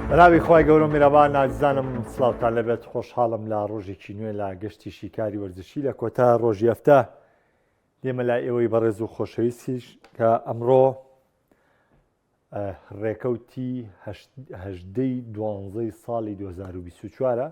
بەناوی خی گەورە میرەبان نازانم سلااوان لەبێت خۆشحاڵم لە ڕۆژێکی نوێ لە گەشتی شیکاری وەرزشی لە کۆتا ڕۆژی ئەفتە لێمە لای ئێوەی بەڕێز و خۆشەویستیش کە ئەمڕۆ ڕێکەوتی هەشدەی دوانزەی ساڵی 2024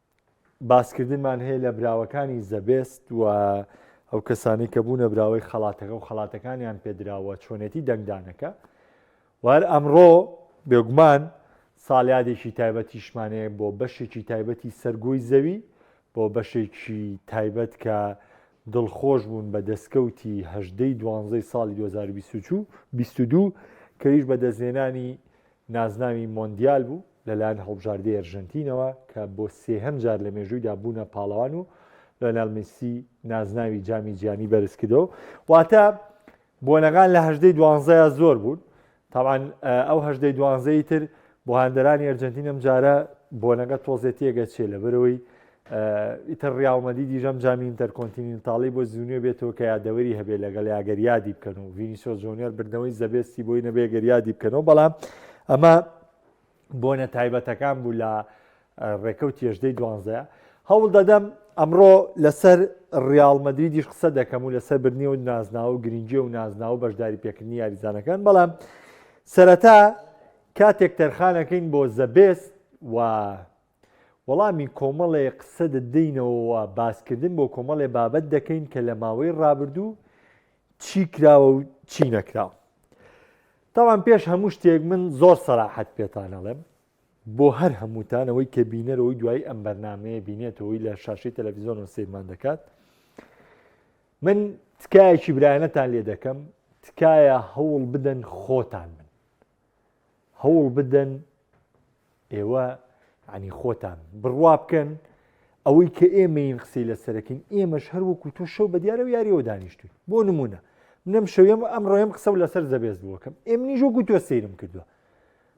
باسکردنمان هەیە لە براوەکانی زەبێست و ئەو کەسانی کە بوونە براوەی خەڵاتەکە و خەڵاتەکانیان پێدراوە چۆنێتی دەنگدانەکە وار ئەمڕۆ بێگومان ساڵیادێکی تایبەتیشمانەیە بۆ بەشێکی تایبەتی سەرگۆی زەوی بۆ بەشێکی تایبەت کە دڵخۆش بوون بە دەستکەوتی هەدەی دوانزەی ساڵی 2022 کەویش بە دەستێنانی نازناوی مۆندیال بوو لەلایەن هەڵبژاردەی ئەرژەنتینەوە کە بۆ سێهەم جار لە مێژوویدا بوونە پاڵەوان و لۆنال میسی نازناوی جامی جیانی بەرزکردەوە واتە بۆنەکان لە هەژدەی دوانزەیە زۆر بوون تاوان ئەو هەژدەی دوانزەی تر بۆ هاندەرانی ئەرجنتینم جارە بۆنەکە تۆزێتیەگە چێ لە بەرەوەی ئیتر ڕیاڵمەدیدی ژەم جامی ئینتەرکۆنتینینتاڵی بۆ زونیۆ بێتەوە کە یادەوەری هەبێ لەگەڵ یاگەر یادی بکەن و ڤینیسۆ جۆنیۆر بردنەوەی زەبێستی بۆی نەبێ گەر یادی بکەنەوە بەڵام ئەمە بۆنە تایبەتەکان بوو لە ڕێکەوت تێژدەی دوانزەیە هەوڵ دەدەم ئەمڕۆ لەسەر ڕیاڵ مەدریدیش قسە دەکەم و لەسەر برنی و نازناوە و گرنگی و نازناوە و بەشداری پێکردنی یاریزانەکان بەڵام سەرەتا کاتێک تەرخانەکەین بۆ زەبێست و وەڵامی کۆمەڵێ قسە دەدەینەوە و باسکردن بۆ کۆمەڵێ بابەت دەکەین کە لە ماوەی ڕابردوو چی کراوە و چی نەکراوە. تاوان پێش هەموو شتێک من زۆر سەراحەت پێتانەڵێم بۆ هەر هەمووتانەوەی کە بینەرەوەی دوای ئەم بەرنمەیە بینێتەوەی لە شاشی تەلەڤزیۆن و سیرمان دەکات من تکایەکی برایەنەتان لێ دەکەم تکایە هەوڵ بدەن خۆتان من هەوڵ بدەن ئێوە عنی خۆتان بڕوا بکەن ئەوەی کە ئێمەین قسەی لە سەرەکەین ئێمەش هەر وەکو تۆ شەو بە دیارە و یاریەوە دانیشتوین بۆ نمونە منم شەوێم ئەم ڕۆێم قسە و لەسەر زەبێز بووەکەم ئێمنی ژۆ گوتۆ سەیرم کردووە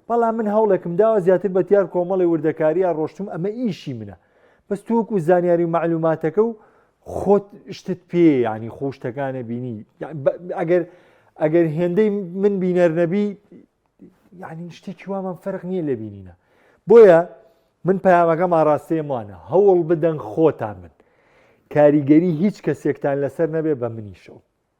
بەڵام من هەوڵێکم داوە زیاتر بە دیار کۆمەڵی وردەکاریە ڕۆشتم ئەمە ئیشی منە بەس تووەکو زانیاری و معلوماتەکە و خۆت شتت پێ ینی خۆشتەکانە بینی ئەگەر ئەگەر هێندەی من بینەر نەبی یعنی شتێکی وامان فەرق نییە لە بینینە بۆیە من پامەکەم ئاراستێمانە هەوڵ بدەن خۆتان من کاریگەری هیچ کەسێکتان لەسەر نەبێ بە منیشەوە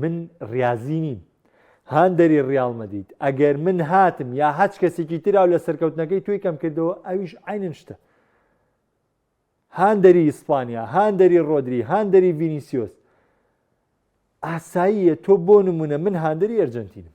من ڕاضی نیم هاندەری ڕیاڵ مەدید ئەگەر من هاتم یا هەچ کەسێکی تراو لە سەرکەوتنەکەی توی کەم کردەوە ئەویش عینن شتە هاندەری ئیسپانیا هاندەری ڕۆدری هاندەری ڤینیسیۆس ئاساییە تۆ بۆ نمونە من هاندەری ئەرجنتینم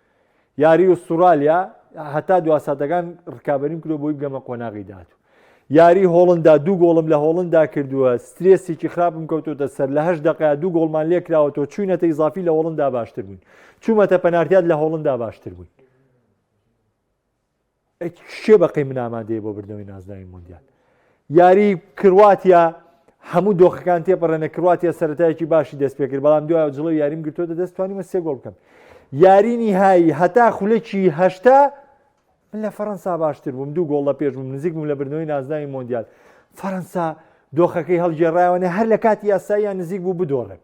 یاری ئوستوڕالیا هەتا دوا ساتەکان ڕکابەریم کرۆ بۆی بگەمە قۆناغی داات و یاری هۆڵندا دوو گۆڵم لە هۆڵندا کردووە سترێسێکی خراپم کەوتۆتە سەر لە هەش دقیا دوو گۆڵمان لێکراوە تۆ چوینەتە ئیزافی لە هۆڵندا باشتر بووین چوومەتە پەنارتیات لە هۆڵندا باشتر بووین کێ بەقەی من ئامادەیە بۆ بردنەوەی نازناوی مۆندیال یاری کرواتیا هەموو دۆخەکان تێپەڕێنە کرواتیا سەتایەکی باشی دەست پێکرد بەڵام دوای جڵە یاریم گرتوۆتە دەستوانیمە سێ گۆڵ بکەم یارینی هایی هەتا خولەکی هەشتا من لە فەەنسا باشتر بووم دوو گۆڵ لە پێش بووم نزیک بووم لە بردنەوەی نازناوی مۆندیال فەەنسا دۆخەکەی هەڵگێڕایەوەێ هەر لە کاتی یاساییان نزیک بوو بدۆڕێت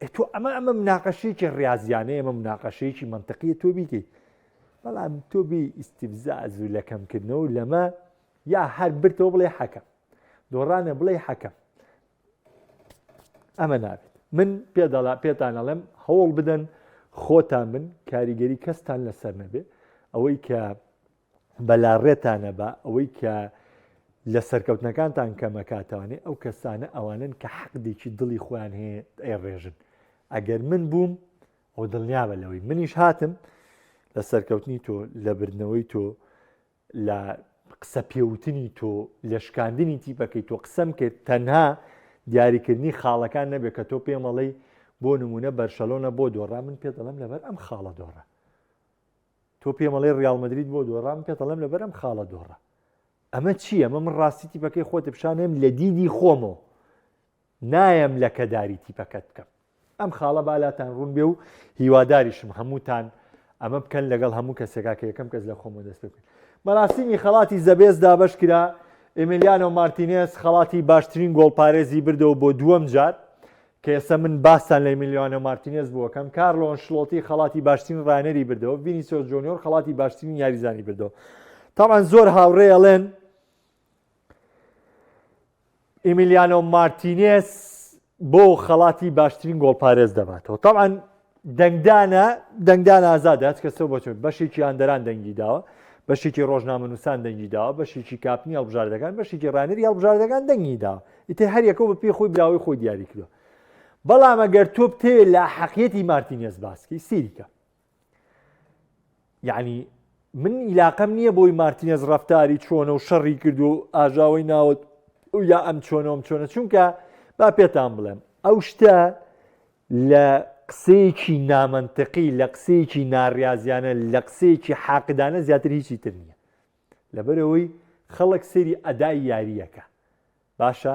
ئەی تۆ ئەمە ئەمە مناقەشەیەکی ڕاضیانە ئەمە مناقەشەیەکی منطقیە تۆ بیکەیت بەڵام تۆ بی ئیسیفزاز و لە کەمکردنەوە لەمە یا هەر برتەوە بڵێ حەکەم دۆڕانە بڵێ حەکەم ئەمە نابێت من پێداڵا پێتان ئەڵێم هەوڵ بدەن خۆتان من کاریگەری کەستان لەسەر نەبێ ئەوەی کە بەلاڕێتانە با ئەوەی کە لە سەرکەوتنەکانتان کەمەکاتوانێ ئەو کەسانە ئەوانن کە حەقدێکی دڵی خۆیان هەیە ئەی ڕێژن ئەگەر من بووم ئەو دڵنیابە لەوەی منیش هاتم لە سەرکەوتنی تۆ لە بردنەوەی تۆ لە قسە پێوتنی تۆ لە شکاندنی تیپەکەی تۆ قسەم کرد تەنها دیاریکردنی خاڵەکان نەبێت کە تۆ پێمەڵەی بۆ نمونە بەرشەلۆنە بۆ دۆڕا من پێ دەڵم لەبەر ئەم خاڵە دۆڕە تۆ پێم ئەڵێ ڕیاڵ مەدرید بۆ دۆڕا من پێت ئەڵێم لەبەر ئەم خاڵە دۆڕا ئەمە چییە ئەمە من ڕاستی تیپەکەی خۆت پیشانێم لە دیدی خۆمەوە نایەم لە کەداری تیپەکەت بکەم ئەم خاڵە بالاتان ڕوون بێ و هیواداریشم هەمووتان ئەمە بکەن لەگەڵ هەموو کەسێکا کە یەکەم کەس لە خۆمە دەست بکەن مەراسیمی خەڵاتی زەبێز دابش کرا ئەملیانۆ مارتینێس خەڵاتی باشترین گۆڵپارێزی بردەوە بۆ دووەم جار کە ئێستا من باستان لە ئیمیلیانۆ مارتینێز بوو ئەکەم، کارلۆ ئەنشڵۆتی خەڵاتی باشترین ڕاهێنەری بردەوە، ڤینیسیۆس جۆنیۆر خەڵاتی باشترین یاریزانی بردەوە. تەبعەن زۆر هاوڕێ ئەڵێن ئیمیلیانۆ مارتینێز بۆ خەڵاتی باشترین گۆڵپارێز دەباتەوە. تەبعەن دەنگدانە دەنگدان ئازادە هەچ کەسەوە بەچێت بەشێکی هاندەران دەنگی داوە بەشێکی ڕۆژنامەنووسان دەنگی داوە بەشێکی کاپنی هەڵبژاردەکان بەشێکی ڕانری هەڵبژاردەکان دەنگی داوە ئیتر هەر یەکە بە پێی خۆی براوەی خۆی دیاری کردو بەڵام ئەگەر تۆ بتەوێت لە حەقیەتی مارتینێز باسکی سیریکە یعنی من ئیلاقەم نییە بۆی مارتینێز ڕفتاری چۆنە و شەڕی کرد و ئاژاوی ناوت یا ئەم چۆنەوەم چۆنە چونکە با پێتان بڵێم ئەو شتە لە قسەیەکی نامەنتقی لە قسەیەکی ناڕازیانە لە قسەیەکی حاقدانە زیاتر هیچی تر نییە لەبەرەوەی خەڵک سەری ئەدای یاریەکە باشە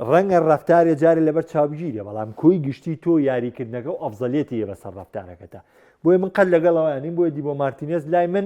ڕەنگە ڕفتارێ جارێ لەبەر چاوگیرێ بەڵام کۆی گشتی تۆ یاریکردنەکە و ئەفزەلێتی یە بەسەر ڕفتارەکەتە بۆیە من قەل لەگەڵەوەیانین بۆیدی بۆ مارتینێز لای من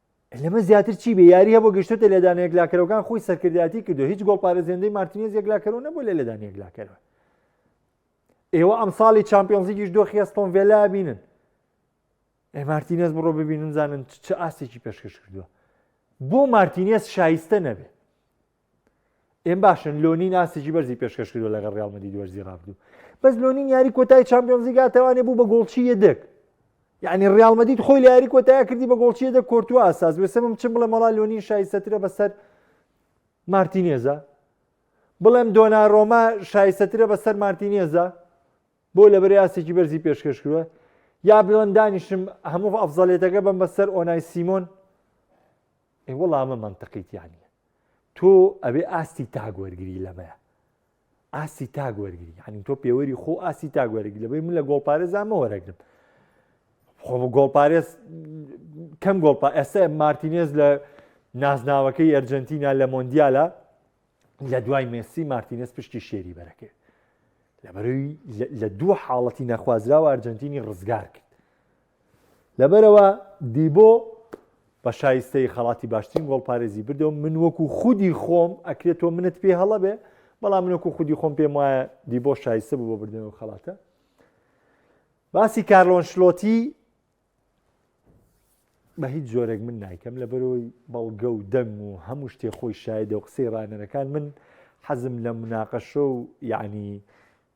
لەمە زیاتر چی بێ یاری هەبوو گەشتێتە لێدان یەکلاکەرەوەکان خۆی سەرکردایەتی کردو هیچ گۆڵ پارێزێندەی مارتینێز یەکلاکەرەوە نەبوو لە لێدان یەکلاکەرەوە ئێوە ئەم ساڵی چمپیۆنزیکیش دۆخی ئەستۆن ڤێلا بینن ئێ مارتینێز بڕۆ ببینن زانن چ ئاستێکی پێشکەش کردووە بۆ مارتینێز شایستە نەبێ ئێم باشن لۆنی ناسێکی بەرزی پێشکەش کردو لەگەڵ ڕیال مەدید وەرزی ڕابدوو بەس لۆنی یاری کۆتای چمپیۆنزی گاتەوانێ بوو بە گۆڵچی یەدەک یعنی ڕیال مەدید خۆی لە یاری کۆتای کردی بە گۆڵچی یەدە کۆرتووە ئاساس وێسەمم چ بڵێ مەڵا لۆنی شایستەترە بەسەر مارتینێزە بڵێم دۆنا ڕۆما شایستەترە بەسەر مارتینێزە بۆ لە بەرە یاسێکی بەرزی پێشکەش کردوە یا بڵێن دانیشم هەموو ئەفزەلێتەکە بم بەسەر ئۆنای سیمۆن ئێ وەڵا ئەمە مەنتقیتیان نیە تۆ ئەبێ ئاستی تاگ وەرگری لەمەیە ئاسی تاگ وەرگری ینی تۆ پێوەری خۆ ئاسی تاگ وەرگری لەبەی من لە گۆڵپارێزامە وەرەگرم خۆ گۆڵپارێز کەم گۆڵپا ئێستا مارتینێز لە نازناوەکەی ئەرجنتینا لە مۆندیالە لە دوای مێسی مارتینێز پشتی شێری بەرەکەێت لەبەروی لە دوو حاڵەتی نەخوازراوە ئەرجنتینی ڕزگار کرد لەبەرئەوە دیبۆ بە شایستەی خەڵاتی باشترین گۆڵپارێزی بردەوە من وەکو خودی خۆم ئەکرێت تۆ منت پێ هەڵە بێ بەڵام منۆکو خودی خۆم پێم وایە دیبۆ شایستە بوو بۆ بردنەوە خەڵاتە باسی کارلۆن شلۆتی بە هیچ جۆرێک من نایکەم لە بەرەوەی بەڵگە و دەنگ و هەموو شتێ خۆی شایدە و قسەی ڕانەرەکان من حەزم لە مناقەشە و یعنی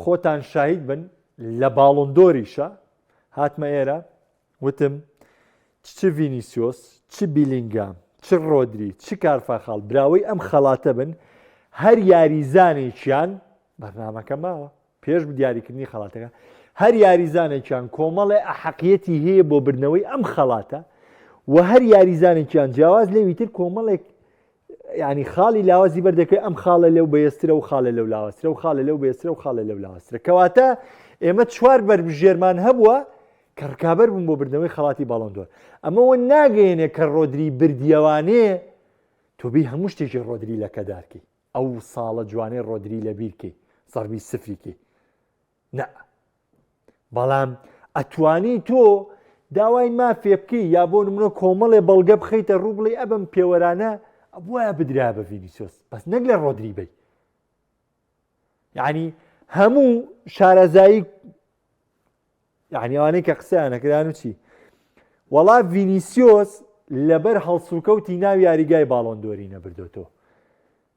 خۆتان شاهید بن لە باڵۆن دۆریشە هاتمە ئێرە وتم چ ڤینیسیۆس چ بیلینگام چ ڕۆدری چ کارفاخاڵ براوەی ئەم خەڵاتە بن هەر یاریزانێکیان بەرنمەکە ماوە پێش دیاریکردنی خەڵاتەکە هەر یاریزانێکیان کۆمەڵێ ئەحەقیەتی هەیە بۆ بردنەوەی ئەم خەڵاتە و هەر یاریزانێکیان جیاواز لێویتر کۆمەڵێک یعنی خاڵی لاوازی بەردەکەی ئەم خاڵە لەو بەێسترە و خاڵە لەو لاوەسترە و خاڵە لەو بێسترە و خاڵە لەو لاوەسترە کەواتە ئێمە چوار بەربژێرمان هەبووە کە ڕکابەر بوون بۆ بردنەوەی خڵاتی باڵندۆر ئەمەوە ناگەێنێ کە ڕۆدری بردیەوانێ تۆبی هەموو شتێکی ڕۆدری لەکەدارکی ئەو ساڵە جوانێ ڕۆدری لە بیرکەی سەربی سفریکی نا بەڵام ئەتوانی تۆ داوای مافێ بکەی یا بۆ نمونە کۆمەڵێ بەڵگە بخیتە ڕوو بڵێ ئەبم پێوەرانە ئەبواە بدرا بە ڤینیسۆس بەس نەک لە ڕۆدری بی یعنی هەموو شارەزایی یعنیوانەی کە قسەیانەکران و چی وەڵا ڤینیسیۆس لەبەر هەڵسوکەوتی ناو یاریگای باڵۆندۆری نەبردۆتەوە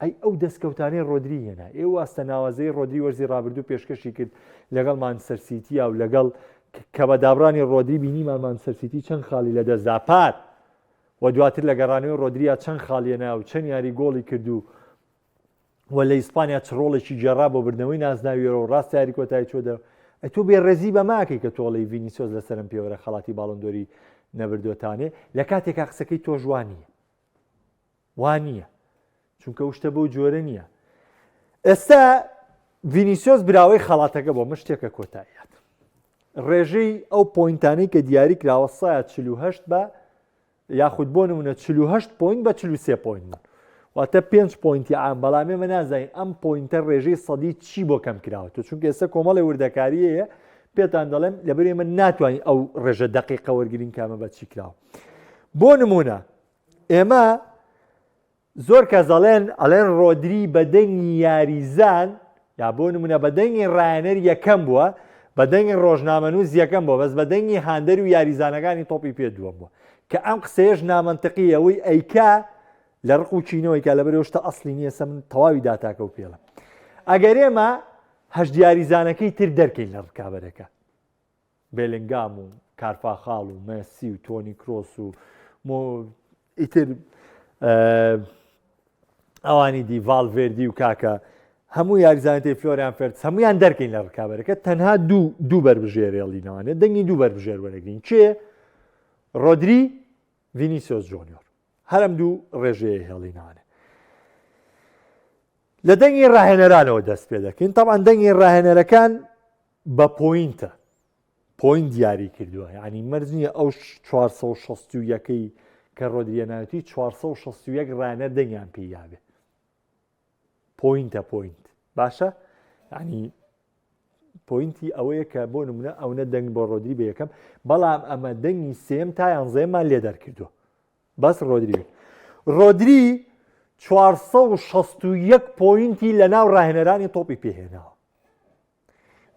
ئەی ئەو دەستکەوتانەی رۆدری هێنا، ئێ واستە ناوازەی رۆدری وەرزی رابردوو پێشکەشی کرد لەگەڵ مانچستەر سیتیا و لەگەڵ کە بە دابڕانی رۆدری بینیمان مانچستەر سیتی چەند خاڵی لەدەستدا پار و دواتر لە گەڕانەوەی رۆدریا چەند خاڵیەنا و چەند یاری گۆڵی کرد و و لە ئیسپانیا چ ڕۆڵێکی گێڕا بۆ بردنەوەی نازناویەوە و ڕاستە یاری کۆتایی چۆدە ئەتۆ بێ ڕێزی بەماکەی کە تۆڵی ڤینیسۆز لە سەرم پێوەرە خەڵاتی باڵندۆری نەبردۆتانێ لە کاتێکا قسەکەی تۆژوانیە وانیە چونکە ئەو شتە بەو جۆرە نییە ئێستا ڤینیسۆس براوەی خەڵاتەکە بۆ مشتێکە کۆتاییات ڕێژەی ئەو پوینتانی کە دیاری کراوە سایە 48 بە یاخود بۆ نمونە 48 پوین بە 43 پوین بوون واتە پێنج پوینتی ئام بەڵامێ مە نازانین ئەم پوینتە ڕێژەی سەدی چی بۆ کەم کراوەەوە چونکە ئێستا کۆمەڵی وردەکاریەیە پێتان دەڵێم لەبەر ئێمە ناتوانین ئەو ڕێژە دقیقە وەرگین کامە بە چی کراوە بۆ نمونە ئێمە زۆر کەس دەڵێن ئەلێن ڕۆدری بە دەنگی یاریزان یا بۆ نمونە بە دەنگی ڕایەنەر یەکەم بووە بە دەنگی ڕۆژنامەنووس یەکەم بۆ بەس بە دەنگی هاندەر و یاریزانەکانی تۆپی پێ دووەم بووە کە ئەم قسەیەش نامەنتەقی ئەوەی ئەیکا لە ڕق و چینەوەی کە لە بەرێشتە ئەسلی نییە سە من تەواوی داتاکە و پێڵم ئەگەر ئێمە هەش دیاریزانەکەی تر دەرکەین لە ڕکابەرەکە بێلینگام و کارفاخاڵ و مێسی و تۆنی کرۆس و مۆ ئیتر ئەوانی دی ڤالڤێردی و کاکە هەموو یاریزانەتی فلۆریان فەرس هەمویان دەرکەین لە ڕکابەرەکە تەنها دوو دوو بەربژێرێڵینەوانێت دەنگی دوو بەربژێر وەرەگرین کێ ڕۆدری ڤینیسۆس جۆنیۆر هەرم دوو ڕێژەیە هێڵینانە لە دەنگی ڕاهێنەرانەوە دەست پێ دەکەین تاوان دەنگی ڕاهێنەرەکان بە پۆینتە پۆینت دیاری کردووە یعنی مەرج نییە ئەو 461ەکەی کە ڕۆدریەناوتی 461 ڕانە دەنگیان پێ یاێ پۆینتە پۆینت باشە ینی پۆینتی ئەوەیە کە بۆ نمونە ئەوە دەنگ بۆ ڕۆدری بە یەکەم بەڵام ئەمە دەنگی سێم تا یانزەیەمان لێ دەرکردو بەس ڕۆدری ڕۆدری 461 پۆینتی لە ناو ڕاهێنەرانی تۆپی پێهێناوە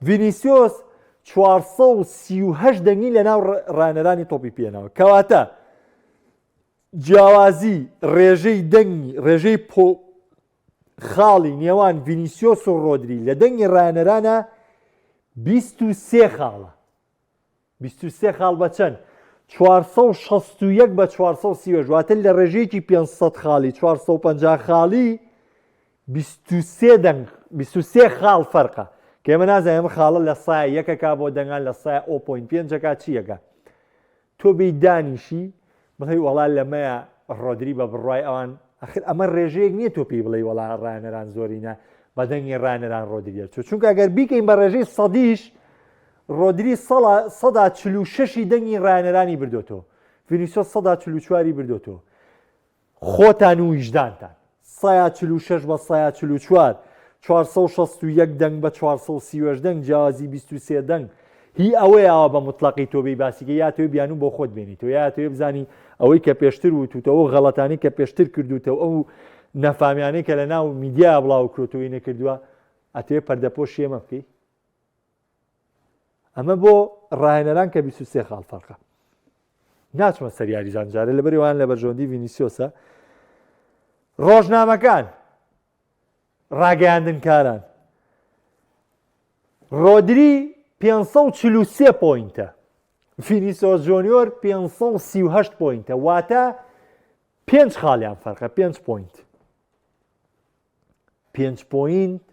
ڤینیسیۆس چوار سەد و سی و هەشت دەنگی لەناو ڕ- ڕانەرانی تۆپی پێناوە کەواتە جیاوازی ڕێژەی دەنگی ڕێژەی پۆ خاڵی نێوان ڤینیسیۆس و ڕۆدری لە دەنگی ڕانەرانە 23 خاڵە بیست و سێ خاڵ بە چەند؟ چوار سەد و شەست و یەک بە چوار سەد و سی و هەشت واتە لە ڕێژەیەکی پێنج سەد خاڵی چوار سەد و پەنجا خاڵی بیست و سێ دەنگ بیست و سێ خاڵ فەرقە کە ئێمە نازانین ئەمە خاڵە لە سایە یەکەکە بۆ دەنگان لە سایە ئەو پۆین پێنجەکە چیەکە تۆ بێی دانیشی بڵێی وەڵا لەمەیە ڕۆدری بە بڕوای ئەوان ئەخر ئەمە ڕێژەیەک نییە تۆ پێی بڵێی وەڵا ڕانەران زۆرینە بەدەنگی ڕانەران ڕۆدریە چوو چونکە گەر بیکەین بە ڕێژەی سەدیش ڕۆدری سەڵا سەدا چل و شەشی دەنگی ڕانەرانی بردۆتەوە فینیسۆ سەدا چل و چواری بردۆتەوە خۆتان و ویژدانتان سەیا چل و شەش بە سەیا چل و چوار، چوار سەد و شەست و یەک دەنگ بە چوار سەد و سی و هەشت دەنگ جیاوازی بیست و سێ دەنگ هی ئەوەیە ئاوا بە موتڵەقی تۆ بێی باسی کەی یا ئەتەوێ بیانوو بۆ خۆت بێنیتەوە یا ئەتەوێ بزانی ئەوەی کە پێشتر وتوتەوە و غەڵەتانەی کە پێشتر کردوتەوە ئەو نەفامیانەی کە لە ناو میدیا بڵاوکرۆتەوەی نەکردووە ئەتەوێ پەردەپۆشی ئێمە بکەی ئەمە بۆ ڕاهێنەران کە 23 خاڵ فەرقە ناچمە سەر یاریزان جارە لە بەریوان لە بەرژۆندی ڤینیسیۆسە ڕۆژنامەکان ڕاگەیاندنکاران ڕۆدری 543 پوینتە فینیسۆ جۆنیۆر 538 پوینتە واتە پێنج خاڵیان فەرقە پێنج پوینت پێنج پۆینت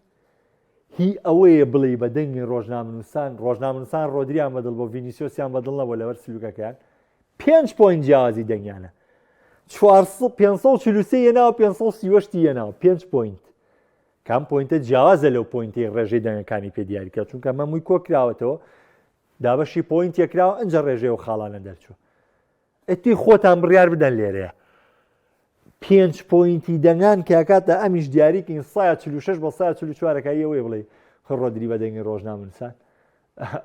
هی ئەوەیە بڵێ بە دەنگی ڕۆژنامنووسان ڕۆژنامنووسان ڕۆدریان بەدڵ بۆ ڤینیسیۆسیان بەدڵ نەبوو لەوەر سلوکەکەیان پێنج پۆین جیاوازی دەنگیانە 543 یەناوە 530 یەناوە پێنج پۆینت کام پۆینتە جیاوازە لەو پۆینتی ڕێژەی دەنگەکانی پێ دیاریکە چونکە مەمووی کۆکراوەتەوە دابەشی پۆینت یەکراوە ئەجا ڕێژەیە و خاڵانە دەرچوو ئیتی خۆتان بڕیار بدەن لێرەیە پێنج پۆینتی دەنگان کاکاتە ئەمیش دیاریکەین سا 46 بە سا 44ەکەیەوەی بڵێ خڕۆدری بە دەنگی ڕۆژنامنسان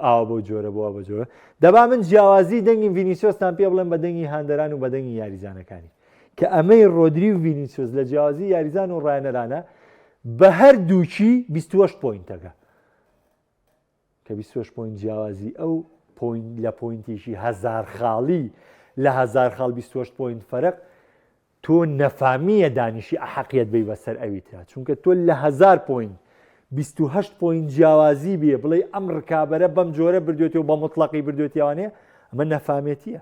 ئاوا بۆ جۆرە بۆە بە جۆرە دەبا من جیاوازی دەنگی ڤینیسۆستان پێ بڵێن بە دەنگی هاندەران و بە دەنگی یاریزانەکانی کە ئەمەی ڕۆدری و ڤینیسۆس لە جیاوازی یاریزان و ڕایەنەرانە بە هەر دووچی 28 پۆینتەکە کە بیست و شەش پۆینت جیاوازی ئەو پۆینت لە پۆینتێکی هەزار خاڵی لە هەزار خاڵ بیست و هەشت پۆینت فەرق تۆ نەفامیە دانیشی ئەحەقیت بی بەسەر ئەوی ترا چونکە تۆ لە هەزار پۆینت بیست و هەشت پۆینت جیاوازی بێ بڵێ ئەم ڕکابەرە بەم جۆرە بردوێتی و بە مطلقی بردوێتیوانێ ئەمە نەفامێتیە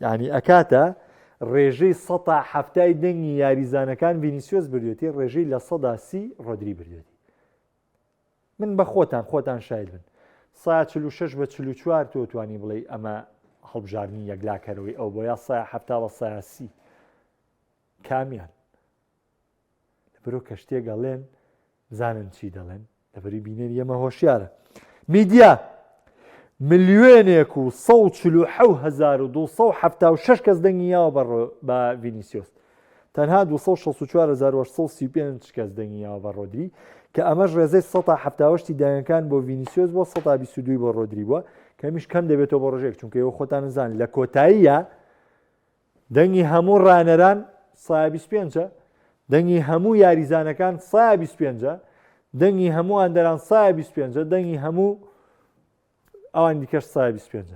یعنی ئەکاتە ڕێژەی سەتا هەفتای دەنگی یاریزانەکان ڤینیسیۆس بردوێتی ڕێژەی لە سەدا سی ڕۆدری بردوێتی من بە خۆتان خۆتان شاید بن سا 46 بە 44 تۆ توانی بڵێ ئەمە هەڵبژاردننی یەکلاکەرەوەی ئەو بۆ یا سا هەفتا بە ساسی کامیان برۆ کەشتێک ئەڵێن بزانن چی دەڵێن لەبەری بینەری ئەمە هۆشیارە میدیا ملیێنێک و 1970 کەس دەنگی یاوە بە بە ڤینیسیۆس تەنها 2645 کەس دەنگی یاوە بە ڕۆدری کە ئەمەش ڕێزەی 1970 دایەنەکان بۆ ڤینیسیۆس بۆ 1922 بۆ ڕۆدری بووە کەمیش کەم دەبێتەوە بۆ ڕژێک چونکە ئەو خۆتان نزان لە کۆتاییە دەنگی هەموو رانەران سا 25 دەنگی هەموو یاریزانەکان سا 25 دەنگی هەموو ئەندەران سا 25 دەنگی هەموو ئەوان دیکەش سا 25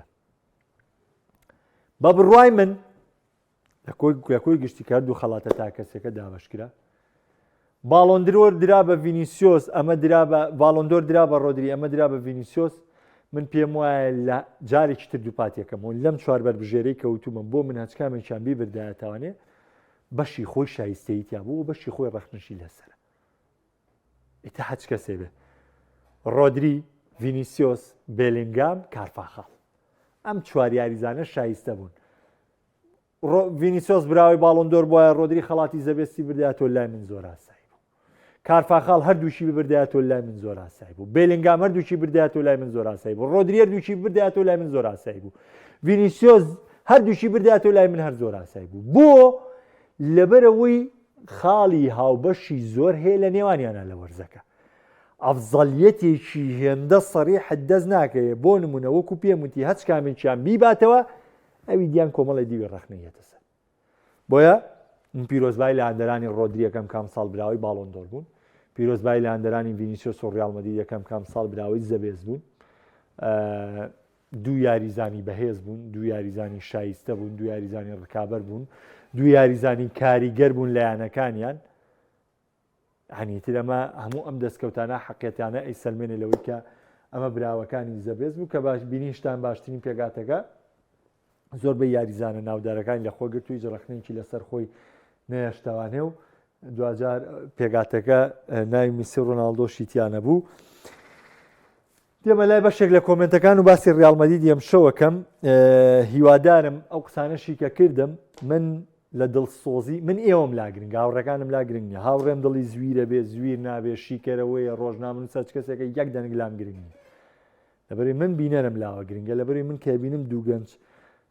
بە بڕای من لە کۆی گشتی کردو خەڵاتە تاکەسەکە دابشکرا باڵۆندرۆر درا بە ڤینیسیۆس ئەمە درا بە باڵۆندۆر درا بە ڕۆدری ئەمە درا بە ڤینیسیۆس من پێم وایە لە جارێکی تر دووپاتیەکەم و لەم چوار بەربژێرەی کەوتومە بۆ من هەچکامێکیان بیبردایەتوانێ بەشی خۆی شایستەی تیا بوو بەشی خۆی ڕەخنشی لەسەر ئیتە حەچ کەسێ بێ ڕۆدری ڤینیسیۆس بێلنگام کارفاخاڵ ئەم چوار یاریزانە شایستە بوون ڤینیسۆس براوەی باڵۆن دۆر بوایە ڕۆدری خەڵاتی زەبێستی بردایە تۆ لای من زۆر ئاسایی بوو کارفاخاڵ هەردووشی ببردایە تۆ لای من زۆر ئاسایی بوو بێلنگام هەردووشی بردایە تۆ لای من زۆر ئاسایی بوو ڕۆدریەر دووشی بردایە تۆ لای من زۆر ئاسایی بوو ڤینیسۆس هەردووشی بردایە تۆ لای من هەر زۆر ئاسایی بوو بۆ لەبەرەوەی خاڵی هاوبەشی زۆر هەیە لە نێوانیانە لە وەرزەکە ئەفزەلیەتێکی هێندە سەری حدەست ناکەوێت بۆ نمونە وەکو پێموتی هەچ کامێکیان بیباتەوە ئەوی دیان کۆمەڵی دیوی ڕخنەی هێتە سەر بۆیە من پیرۆزبای لە هەندەرانی ڕۆدریەکەم کام ساڵ براوەی باڵۆن دۆر بوون پیرۆزبای لە هەندەرانی ڤینیسیۆ سۆڕیاڵمەدی یەکەم کام ساڵ براوەی زەبێز بوون دوو یاریزانی بەهێز بوون دوو یاریزانی شایستە بوون دوو یاریزانی ڕکابەر بوون دوو یاریزانی کاریگەر بوون لایەنەکانیان یەعنی ئیتر ئەمە هەموو ئەم دەستکەوتانە حەقیەتانە ئەیسەلمێنێ لەوەی کە ئەمە براوەکانی زەبێز بوو کە باش بینیشتان باشترین پێگاتەکە زۆربەی یاریزانە ناودارەکانی لە خۆ گرتووی جڕەخنێکی لەسەر خۆی نەیەشتەوانێ و دوجار پێگاتەکە ناوی میسی ڕۆناالدۆشی تیانە بوو. دێمە لای بەشێک لە کۆمنتەکان و باسی ڕیال مەدید یەم شەوەکەم هیوادارم ئەو قسانەشی کە کردم من لە دڵسۆزی من ئێوەم لا گرنگ هاوڕەکانم لا گرنگ نیە هاوڕێم دڵی زویرە بێ زویر نابێ شیکەرەوەیە ڕۆژنامن سەچ کەسێکە یەک دەنگ لام گرنگ لەبەری من بینەرم لاوە گرنگە لەبەری من کە بینم دووگەنج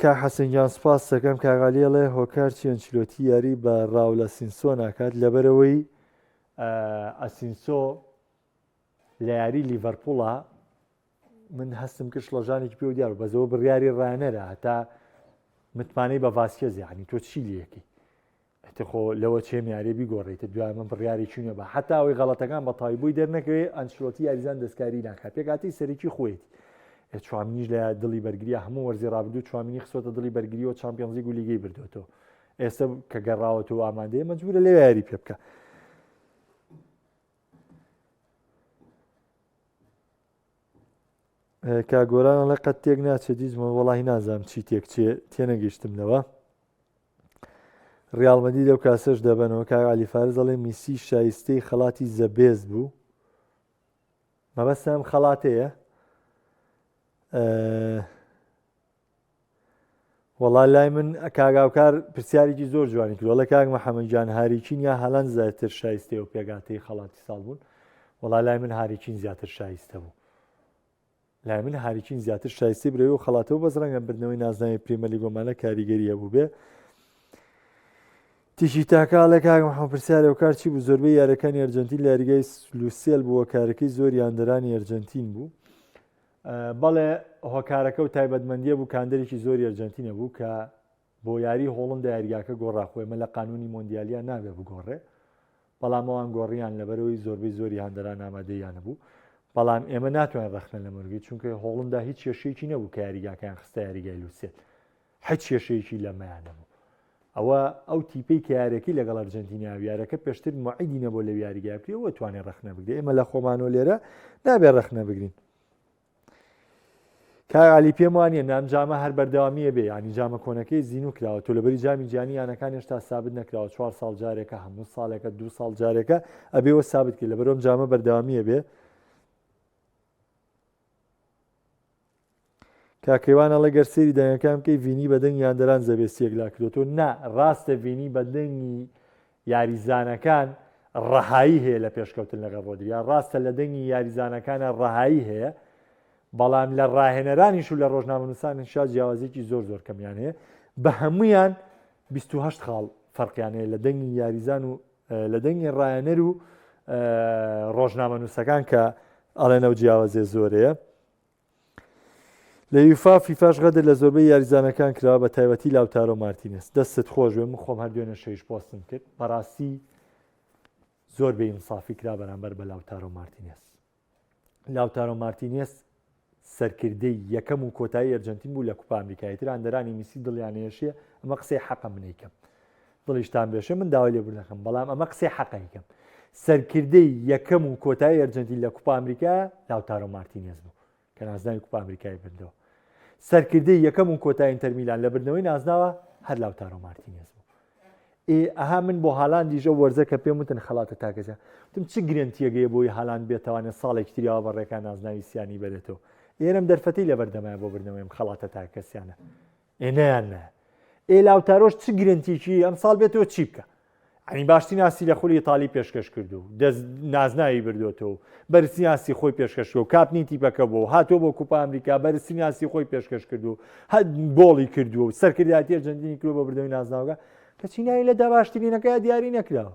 کاک حەسەن گیان سپاست دەکەم کاک عەلی ئەڵێ هۆکار چی ئەنچلۆتی یاری بە ڕاولە سینسۆ ناکات لەبەرەوەی ئەسینسۆ لە یاری لیڤەرپوڵە من هەستم کرد شڵەژانێکی پێ دیار بەزەوە بڕیاری ڕانەرە هەتا متمانەی بە ڤاسکێزیانی تۆ چی لەکەی ئەتە خۆ لەوە چێم یارێ بیگۆڕیتە دوای من بڕیاری چوونە بە حتا ئەوەی غەڵەتەکان بە تای بووی دەرنەکەوێ ئەنچلۆتی یاریزان دەستکاری ناکات پێکاتی سەرکی خۆیت چوامنیش لە دڵی بەرگریا هەموو وەرزی ڕابدو چوامنی خسۆتە دڵی بەرگریەوە چمپیۆنزی گولیگەی بردوێتۆ ئێستا کە گەڕاوەتەوە ئامادەیە مەجبورە لە یاری پێ بکە کا گۆران ئەڵێ قەت تێک ناچێت دیزمە وەڵی نازانم چی تێک چێ تێنەگەیشتم لەوە ڕالمەدی لەو کاسەش دەبنەوە کا علیفارز ئەڵێ میسی شایستەی خەڵاتی زەبێز بوو مەبەستم خەڵاتەیە وەڵا لای من کاک هاوکار پرسیارێکی زۆر جوانی کرد وەڵا کاک محەممەد جان هاریکین یا هالند زیاتر شایستەی و پێگاتەی خەڵاتی ساڵ بوون وەڵا لای من هاریکین زیاتر شایستە بوو لای من هاریکین زیاتر شایستی برەوی و خەڵاتەوە بەس ڕەنگە بردنەوەی نازناوی پریمەلی گۆمانە کاریگەری هەبوو بێ تیشی تاکالە کاک محەممەد پرسیارە و کار چی بوو زۆربەی یارەکانی ئەرجەنتین لە یاریگای لوسیل بووە کارەکەی زۆر یاندەرانی ئەرجەنتین بوو بەڵێ هۆکارەکە و تایبەتمەندیە بوو کاندەرێکی زۆری ئەرجەنتینە بوو کە بۆ یاری هۆڵندا یاریگاکە گۆڕا خۆی مە لە قانونی مۆندیالیا نابێ بگۆڕێ بەڵام ئەوان گۆڕیان لەبەرەوەی زۆربەی زۆری هەندەران ئامادەیانە بوو بەڵام ئێمە ناتوانین ڕخنە لە مەرگی چونکە هۆڵندا هیچ کێشەیەکی نەبوو کە یاریگاکەیان خستە یاریگای لوسێت هیچ کێشەیەکی لەمەیان نەبوو ئەوە ئەو تیپەی کە یارەکەی لەگەڵ ئەرجەنتینیا و یارەکە پێشتر معیدی نەبوو لە یاریگای بکرێ ئەوە توانێ ڕخنە بگرێ ئێمە لە خۆمانۆ لێرە نابێ ڕخنە بگرین کاغالی پێم وانە نام جامە هەر بەردەوامیە بێ ینی جامە کۆنەکەی زین و کراوە تۆ لەبری جامی جیانی یانەکان هێشتا سابت نەکراوە چوار ساڵ جارێکە هەموو ساڵێکە دو ساڵ جارێکە ئەبێەوە سابت کرد لە بەرۆم جامە بەردەوامیە بێ کاکەێوان ئەڵێ گەر سێری دەنگەکان بکەی ڤینی بە دەنگی یاندەران زەبێستی یەکلا کردوەوە نا ڕاستە ڤینی بە دەنگی یاریزانەکان ڕەهایی هەیە لە پێشکەوتن لەگەڵ ڕۆدریا ڕاستە لە دەنگی یاریزانەکانە ڕەهایی هەیە بەڵام لە ڕاهێنەرانیش و لە ڕۆژنامەنووسان شا جیاوازێکی زۆر زۆر کەمیان هەیە بە هەمویان 28 خاڵ فەرقیانەیە لە دەنگی یاریزان و لە دەنگی ڕایەنەر و ڕۆژنامەنووسەکان کە ئەڵێن ئەو جیاوازێ زۆرەیە لە یوفا فیفاش غەدر لە زۆربەی یاریزانەکان کراوە بە تایبەتی لاوتارۆ مارتینس دەستت خۆش بێ من خۆم هەر دوێنە شەیش پۆستم کرد بەڕاستی زۆر بە ئینسافی کرا بەرامبەر بە لاوتارۆ مارتینس لاوتارۆ مارتینێس سەرکردەی یەکەم و کۆتایی ئەرجنتین بوو لە کوپا ئەمریکای تر هەندەرانی میسی دڵیانێشیە ئەمە قسەی حەقە منیکەم دڵیشتان بێشێ من داوای لێ بنەکەم بەڵام ئەمە قسەی حەقەیکەم سەرکردەی یەکەم و کۆتایی ئەرجنتین لە کوپا ئەمریکا لاوتارۆ مارتینێز بوو کە نازناوی کوپا ئەمریکای بردەوە سەرکردەی یەکەم و کۆتایین تەرمیلان لە بردنەوەی نازناوە هەر لاوتارۆ مارتینێز بوو ئێ ئەها من بۆ هالاندیش ئەو وەرزە کە پێم وتن خەڵاتە تاکەجا وتم چ گرێنتییەگەیە بۆی هالاند بێتوانێت ساڵێکی تریاوە بە ڕێکا نازناوی سیانی بەرێتەوە ئێرەم دەرفەتی لەبەردەمای بۆ بردنەوەی ئەم خەڵاتە تاکەسیانە ئێ نەیان نە ئێ لاوتارۆش چ گرنتیکی ئەم ساڵ بێتەوە چی بکە ئەنی باشتی ناسی لە خولی تاالی پێشکەش کردو دەست نازناوی بردوێتەوە بەرسیاسی خۆی پێشکەشەوە کاپنی تیپەکە بۆ هاتۆ بۆ کوپا ئەمریکا بەرسیاسی خۆی پێشکەش کردو هەر گۆڵی کردووە و سەرکردایەتی ئەرجەنتینی کرۆ بە بردەوەی نازناوگە کە چینایی لە داباشترینەکەی دیاری نەکراوە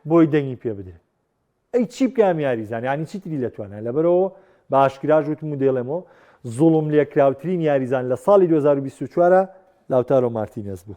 بۆی دەنگی پێ بدرێت ئەی چی بکەم یاریزان ینی چیتری لە توانە لەبەرەوە باشکراژ وت مدێڵێمەوە زوڵم لێکراوترین یاریزان لە ساڵی 2024 لاوتارۆ مارتینەس بوو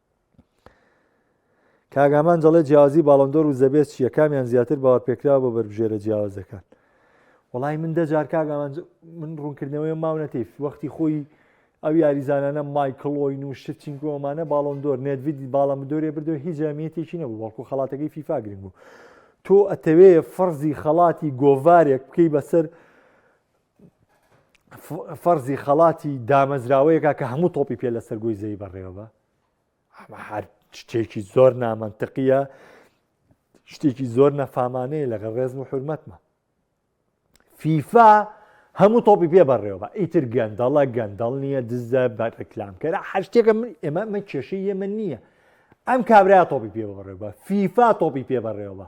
کاک ئامانج دەڵێت جیاوازی باڵۆندۆر و زەبێت چییە کامیان زیاتر باوەرپێکراوە بۆ بەربژێرە جیاوازەکان وڵی من دەجار کاک ئامانج من ڕوونکردنەوەی ماونەتیف وەختی خۆی ئەو یاریزانانە مایکلۆین و شتچینکۆمانە باڵۆندۆر نێتوید باڵە مدۆرێ بردو هیچ جامیەتێکی نەبوو بەڵکو خەڵاتەکەی فیفا گرنگ بوو تۆ ئەتەوێ فەرزی خەڵاتی گۆڤارێک بکەی بەسەر فەرزی خەڵاتی دامەزراوەیەکە کە هەموو تۆپی پێ لە سەرگۆی زەی بەڕێوەبە ئەمە هەر شتێکی زۆر نامەنتقیە شتێکی زۆر نەفامانەیە لەگەڵ ڕێزم و حرمەتمە فیفا هەموو تۆپی پێ بەڕێوەبە ئیتر گەندەڵە گەندەڵ نییە دزە بە ڕکلامکەرە هەر شتێکە من ئێمە من کێشەی ئێمە نییە ئەم کابراە تۆپی پێ بەڕێوە فیفا تۆپی پێ بەڕێوە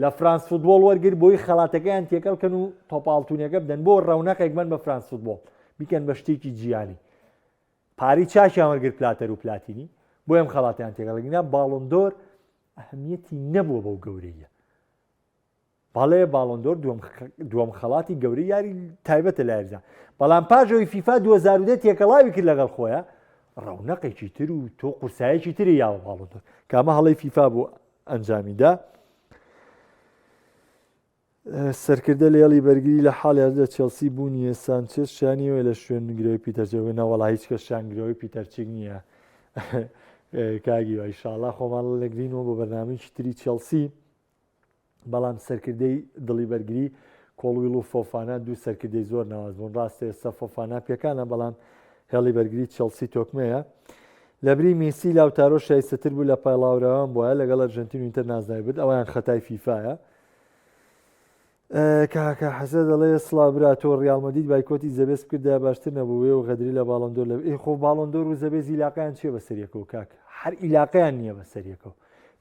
لە فرانس فوتبۆڵ وەرگر بۆی خەڵاتەکەیان تێکەڵ کەن و تۆپاڵتونەکە بدەن بۆ ڕەونەقێک بن بە فرانس فوتبۆڵ بیکەن بە شتێکی جیانی پاری چاکیان وەرگر پلاتەر و پلاتینی بۆ ئەم خەڵاتیان تێگەڵگینا باڵندۆر ئەهمیەتی نەبووە بەو گەورەیە بەڵێ باڵندۆر دووەم خەڵاتی گەورە یاری تایبەتە لایردا بەڵام پاژەوەی فیفا 2010 تێکەڵاوی کرد لەگەڵ خۆیان ڕەونەقێکی تر و تۆ قورسایەکی تری یاوە باڵندۆر کامە هەڵی فیفا بوو ئەنجامیدا. سەرکردە لە یاڵی بەرگری لە حاڵیان لە چێلسی بوونیە سانچێت شانیەوە لە شوێن گرەوەی پیتەرجەوە ناوەڵا هیچ کە شانگرەوەی پیتەرچیک نییە کاگی وای شاڵا خۆمان لەگرینەوە بۆ بەرنامەیەکی تری چێلسی بەڵام سەرکردەی دڵی بەرگری کۆڵویل و فۆفانا دوو سەرکردەی زۆر ناواز بوون ڕاستێ سەفۆفانا پێکانە بەڵام هێڵی بەرگری چێلسی تۆکمەیە لەبری میسی لاوتارۆ شایستەتر بوو لە پایڵاوراوان بوایە لەگەڵ ئەرژەنتین و ئینتەر نازناوی برد ئەوەیان خەتای فیفایە کاکە حەزە دەڵێ سڵا برا تۆ ڕیاڵمەدید بایکۆتی زەبێس بکردا باشتر نەبوو وێ و غەدری لە باڵندۆر لە ئێ خۆ باڵندۆر و زەبێ زیلاقیان چیە بەسەریەکە و کاک هەر ئیلاقیان نییە بەسەریەکە و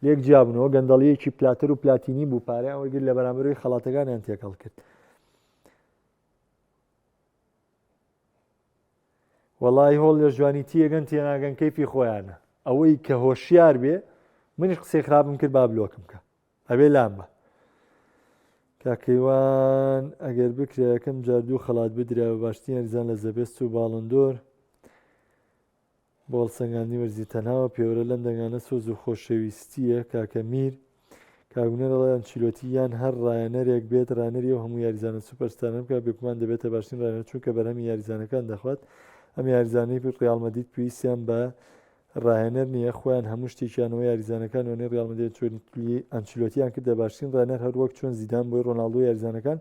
لێک جیابنەوە گەندەڵیەکی پلاتەر و پلاتینی بوو پارەیان وەرگر لە بەرامبەروی خەڵاتەکانیان تێکەڵ کرد وەڵایی هۆڵ لە جوانی تیەگەن تێناگەن کەیفی خۆیانە ئەوەی کە هۆشیار بێ منیش قسەی خراپم کرد با بلۆکم کە ئەبێ لام بە کاکەیوان ئەگەر بکرێ یەکەم جار دوو خەڵات بدرا بە باشترین یاریزان لە زەبێست و باڵندۆر بۆ هەڵسەنگاندنی وەرزی تەنهاوە پێوەرە لەم دەنگانە سۆز و خۆشەویستییە کاکە میر کاک هونەر ئەڵێ ئەنچیلۆتی یان هەر ڕایەنەرێک بێت ڕانەری ئەو هەموو یاریزانە سوپەر ستارانە بکات بێگومان دەبێتە باشترین ڕانەر چونکە بەرهەمی یاریزانەکان دەخوات ئەم یاریزانەی ڕیاڵ مەدید پێویستیان بە ڕاهێنەر نییە خۆیان هەموو شتێکیانەوە یاریزانەکان وێنەی ڕیاڵ مەدید ئەنچیلۆتیان کردە باشترین ڕانەر هەر وەک چۆن زیدان بۆی ڕۆناڵدۆ یاریزانەکان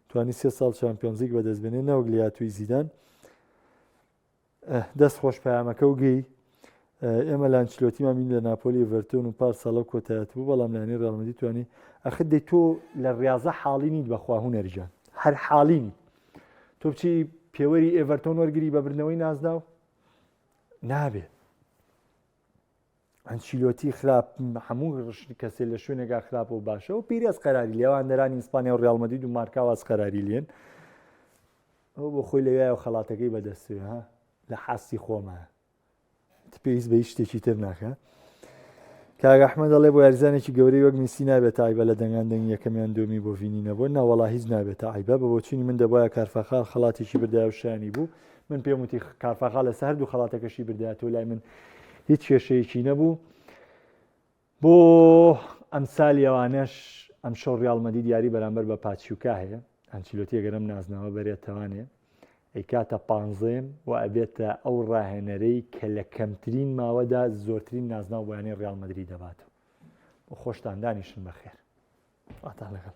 توانی سێ ساڵ چامپیۆنزیک بەدەست بێنێ نەوەک لە یاتووی زیدان دەست خۆش پەیامەکە و گێی ئێمە لە ئەنچلۆتیمان بین لە ناپۆلی ئێڤەرتۆن و پار ساڵە و کۆتایەت بوو بەڵام لایەنی ڕیاڵ مەدرید توانی ئەخر دەی تۆ لە ڕاضە حاڵی نیت بەخوا هونەر گیان هەر حاڵی نیت تۆ بچی پێوەری ئێڤەرتۆن وەرگری بە بردنەوەی نازناو نابێ ئەنچیلۆتی خراپ هەموو کەسێ لە شوێنێکا خراپ و باشە و پیرەس قەراری لێوان نەرانی ئیسپانیا و ڕالمەدید و مارکاواز قەراری لێن ئەو بۆ خۆی لەوێ و خەڵاتەکەی بەدەستێ ها لە حاستی خۆمە پێویست بە شتێکی تر ناکە کاگەحمە دەڵێ بۆ یاریزانێکی گەورەی وەک میسی نابێت تایبە لە دەنگان دەنگی یەکەمیان دومی بۆ ڤینی نەبوو ناوەڵا هیچ نابێت تایبە بە بۆچوونی من دەبواە کارفەخال خەڵاتێکی بردای و شانی بوو من پێم وتی کارفاخا لەسە هەردوو خەڵاتەکەشی بردە تۆ لای من هیچ کێشەیەکی نەبوو بۆ ئەم سالیەوانەش ئەم شەو ڕالمەدی دیاری بەرامبەر بە پاچیوکا هەیە ئەنچلوتی گەرم نازناوە بەرێتەوانێ ئەیکاتە پانزێم و ئەبێتە ئەو ڕاهێنەرەی کە لە کەمترین ماوەدا زۆرترین نازناو بۆیانەی ڕالمەدری دەباتەوە بۆ خۆشتاندانیشن بەخێر ئاتان لەگەڵ